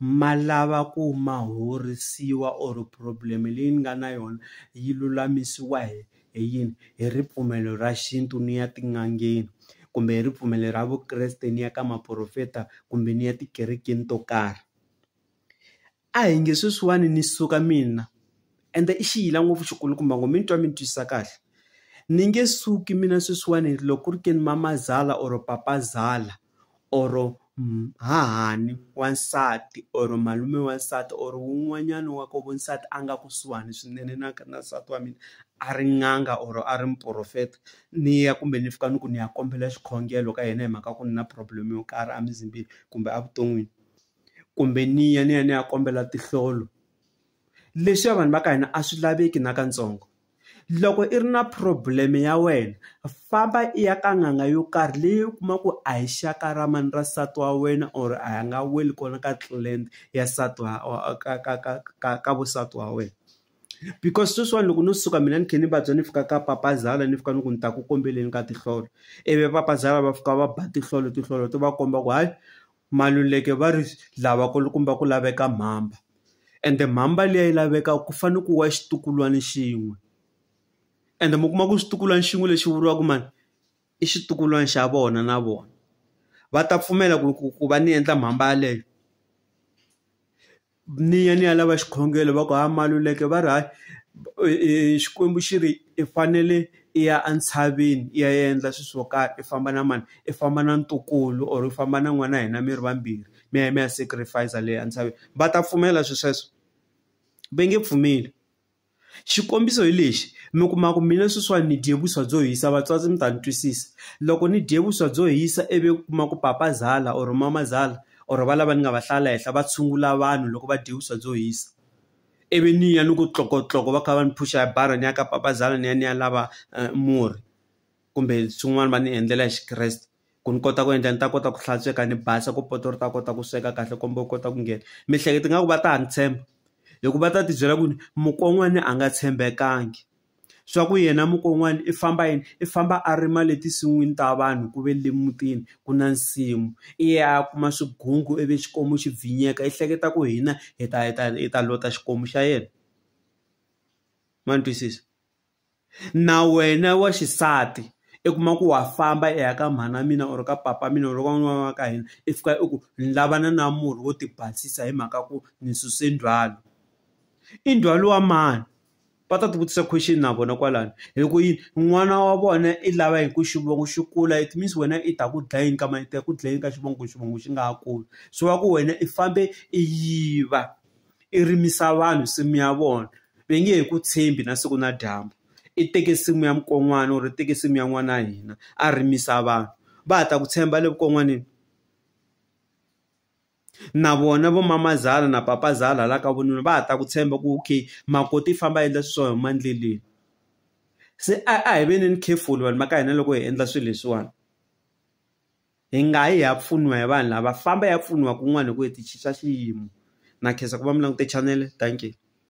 ma lava ku ma horisiwa or problem leyi ni nga na yona yi lulamisiwa hi hi yini hi ripfumelo ra xintu ni ya tin'angeni kumbe hi ripfumelo ra vukreste ni ya ka maporofeta kumbe ni ya tikerekeni to karhi a hi nge sweswiwani ni suka mina ende i xiyila ngopfu xikulukumba ngo mi ni twa mi ni twisisa kahle ni nge suki mina sweswiwani loko ku ri ke ni mamazala or papazala or hahani wansati or malume wansati or wun'wanyana wa koho nsati a nga kusuhani swinene na na nsati wa mina a ri n'anga or a ri muporofeta ni ya kumbe ni fika ni ku ni ya kombela xikhongelo ka yena hi mhaka ku ni na problem yo karhi emizimbeni kumbe evuton'wini kumbe ni ya ni ya ni ya kombela tinhlolo Leswiya vanhu va ka hina a swi laveki na ka ntsongo. Loko i ri na problem ya wena famba i ya ka n'anga yo karhi leyi u kuma ku a hi xaka ra mani ra nsati wa wena or a hi nga weli kona ka clan ya nsati wa ka ka ka ka ka va nsati wa wena. Because sweswiwani loko no suka mina ni khe ni vabya ni fika ka papazala ni fika ni ku ni ta ku kombeleni ka tinhlolo ivi papazala va fika va ba tinhlolo tinhlolo ti va komba ku hayi Maluleke va ri lava kulukumba ku laveka mhamba ende mhamba liya yi laveka ku fane ku wa xitukulwana xin'we ende mi kuma ku xitukulwana xin'we lexi vuriwaka mhani i xitukulwana xa vona na vona va ta pfumela ku ku ku va ni endla mhamba yaleyo. ni ya ni ya lava xikhongelo va ku ha Maluleke va ri hayi Xikwembu xi ri i fanele i ya entshaveni i ya endla swilo swo karhi i famba na mani i famba na ntukulu or u famba na n'wana wa hina mi ri vambirhi mi ya mi ya sacrifice le entshaveni va ta pfumela swilo sweswo? Va nge pfumeli. Xikombiso hi lexi, mi kuma ku mina sweswiwani ni dye vuswa byo hisa vatswatsi mi ta ni twisisa loko ni dye vuswa byo hisa ivi u kuma ku papa zala or mama zala or va lava ni nga va hlaya la henhla va tshungula vanhu loko va dye vuswa byo hisa, ivi ni ya ni ku tlokotloka va kha va ni phusha hi bara ni ya ka papa zala ni ya ni ya lava murhi kumbe swin'wana va ni endlela hi Xikreste. ku ni kota ku endla ni ta kota ku hlantsweka ni basa ku poto ri ta kota ku sweka kahle komba u kota ku nghena miehleketo nga ku va ta ha ni tshemba hikuva va ta ti byela ku ni mukon'wana a nga tshembekangi swa ku yena mukon'wana i famba yini i famba a rima le tinsin'wini ta vanhu ku ve le mutini ku na nsimu i ya kuma swigungu ivi xikwembu xi bvinyeka i hleketa ku hina hi ta hi ta hi ta lota xikwembu xa yena ma ni twisisa. Na wena wa xisati i kuma ku wa famba i ya ka mhana mina or ka papa mina or ka n'wana wa ka hina i fika i ku ni lava na na murhi wo ti basisa hi mhaka ku ni suse ndzhwalo. I ndzhwalo wa mani? Va ta ti vutisa question na vona kwalano hi ku yini n'wana wa vona i lava hi ku xivongo xi kula it means wena i ta ku dlayini ka mani i ta ku dlayini ka xivongo ku xivongo xi nga ha kuli. Se wa ku wena i fambe i yiva. i rimisa vanhu nsimu ya vona ve nge he ku tshembi na siku na dyambu i teke nsimu ya mukon'wana or i teke nsimu ya n'wana wa hina a rimisa vanhu va ha ta ku tshemba le vukon'waneni na vona vo mamazala na papazala hala ka vununa va ha ta ku tshemba ku okay makoti i famba a endla swiswa huma endleleni se a hi veneni careful vanhu va ka hina loko hi endla swilo leswiwani. Hi nga yi hi ya pfuniwa hi vanhu lava famba hi ya pfuniwa kun'wana hi ku hi ti cinca xiyimo na khensa ku va mi langute chanele dankie.